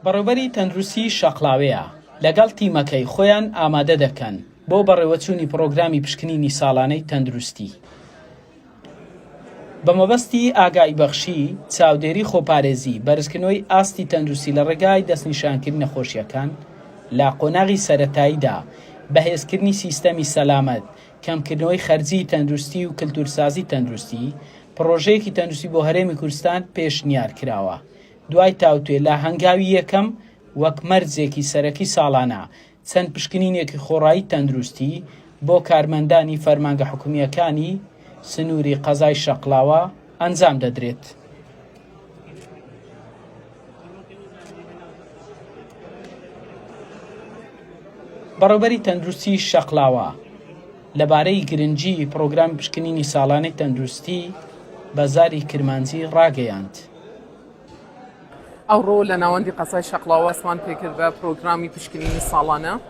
بەڕێوبەری تەندروستی شەقڵاوەیە لەگەڵ تیمەکەی خۆیان ئامادە دەکەن بۆ بەڕێوەچوونی پڕۆگرامی پشکنینی ساڵانەی تەندروستی بەمەبەستی ئاگایی بەخشی چاودێری خۆپارێزی بەرزکردنەوەی ئاستی تەندروستی لە ڕێگای دەستنیشانکردنی نەخۆشیەکان لە قۆناغی سەتاییدا بەهێزکردنی سیستەمی سەلامەت کەمکردنەوەی خەرجیی تەندروستی و کلتورسازی تەندروستی، پڕۆژەیەکی تەندروستی بۆ هەرێمی کوردستان پێشنیار کراوە، دوای تاوتوێ لە هەنگاوی یەکەم وەک مەرجێکی سەرەکی ساڵانە چەند پشکنینێکی خۆڕایی تەندروستی بۆ کارمەندانی فەرمانگە حکومییەکانی سنووری قەزای شەقڵاوە ئەنجام دەدرێت. بەڕێوبەری تەندروستی شەقلاوە لەبارەی گرنگی پرۆگرام پشکنینی ساڵانەی تەندروستی بەزاری کرمانجی ڕاگەیاند. ئەوڕۆ لە ناوەندی قەزای شەقلاوە سوان پێکرد بە پرۆگرامی پشکنینی ساڵانە.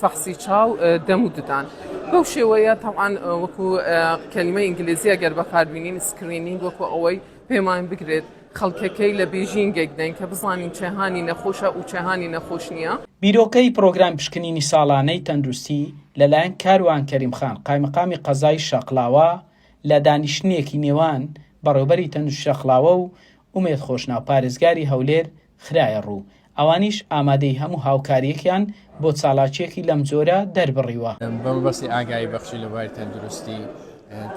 فەحسی چاو دەم و ددان بەو شێوەیە تەوان وەکو کەلیمە ئینگلیزیە گەر بەکاربینین سکرینین وەکو ئەوەی پێمان بگرێت خەڵکەکەی لە بێژینگێک دەین کە بزانین چێهانی نەخۆشە و چێهانی نەخۆش نییە. بیرۆکەی پرۆگرام پشکنینی ساڵانەی تەندروستی لەلایەن کاروان کەریم خان قایمقامی قەزای شاقڵاوە لە دانیشتنێکی نێوان بەڕێوبەری تەندروستی شاقڵاوە و ئومێد خۆشناو پارێزگاری هەولێر خرایە ڕوو، ئەوانیش ئامادەی هەموو هاوکارییەکیان بۆ چالاکییەکی لەم جۆرە دەربڕیوە. بە مەبەستی ئاگایی بەخشی لە بواری تەندروستی،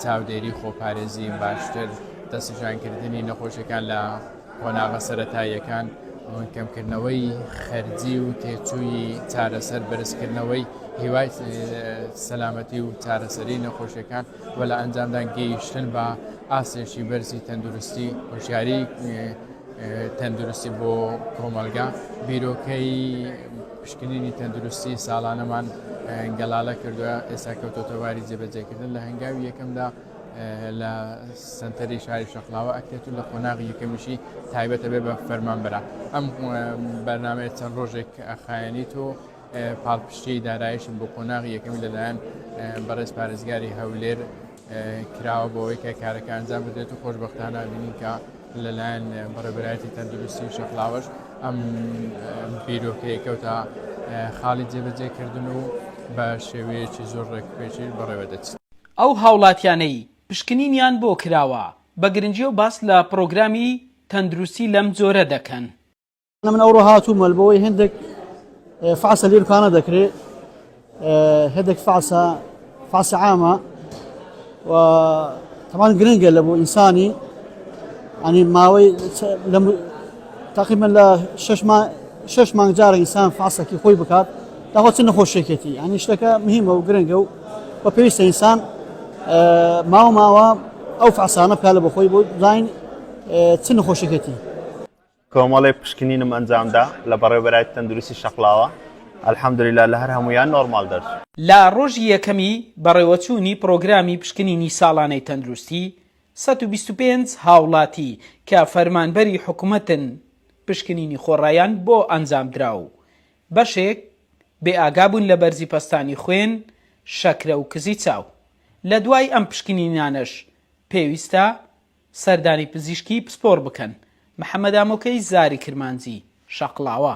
چاودێری، خۆپارێزی باشتر، دەستنیشانکردنی نەخۆشییەکان لە قۆناغە سەرەتاییەکان، کەمکردنەوەی خەرجی و تێچووی چارەسەر، بەرزکردنەوەی هیوای سەلامەتی و چارەسەری نەخۆشییەکان و لە ئەنجامدا گەیشتن بە ئاستێکی بەرزی تەندروستی، هۆشیاری تەندروستی بۆ کۆمەڵگا بیرۆکەی پشکنینی تەندروستی ساڵانەمان گەڵالە کردووە ئێستا کەوتۆتەواری جێبەجێکردن لە هەنگاوی یەکەمدا لە سنتەری شاری شەقلاوە ئەکرێت و لە قۆناغی یەکەمیشی تایبەتە بێ بە فەرمان برا ئەم بەرنمەیە چەند ڕۆژێک ئەخایەنی تۆ پاڵپشتی دارایشم بۆ قۆناغی یەکەمی لەلایەن بەڕێز پارێزگاری هەولێر کراوە بۆوەی کە کارەکە ئەنجام بدرێت و خۆشببختانە بینین کە لەلایەن بەڕێبراتی تەندروستی و شەقلاوەش ئەم بیرۆکەی کەوتا خاڵی جێبەجێکردن و بە شێوەیەکی زۆر ڕێکپێکی بەڕێوە دەچێت. ئەو هاوڵاتیانەی پشکنینیان بۆ کراوە بە گرنگیەو باس لە پڕۆگرامی تەندروستی لەم جۆرە دەکەن. من ئەوڕۆ هاتوومە بەوەی هەندێک فعسە لێ دوکانە دەکرێ هەندێک فعسە فعسە عامە و تەمان گرنگە لە بۆ ئینسانی ئەنی ماوەی تقریبان لە شش مانگ جارە ئینسان فعسەکی خۆی بکات داخۆ چ نەخۆشێکێتی ئەنی شتەکە مهمە و گرنگە و بە پێویستە ئینسان ماوە ماوە ئەو فعسانە بکە لە بەخۆی بۆ زین چ نەخۆشێکێتی کۆمەڵێک پشکنینم ئەنجامدا لە بەڕێوەبەرایەتی تەندروستی شەقڵاوە، الحمدللە لە هەر هەموویان نۆرماڵ دەرچوو. لە ڕۆژی یەکەمی بەڕێوەچوونی پڕۆگرامی پشکنینی ساڵانەی تەندروستی، سەد و بیست و پێنج هاوڵاتی کە فەرمانبەری حکومەتن پشکنینی خۆڕایان بۆ ئەنجامدرا و بەشێک بێئاگابوون لە بەرزی پەستانی خوێن، شەکرە و کزی چاو. لەدوای ئەم پشکنینانەش پێویستە سەردانی پزیشکی پسپۆڕ بکەن. محەمەدامۆکەی زاری کرمانجی، شەقڵاوە.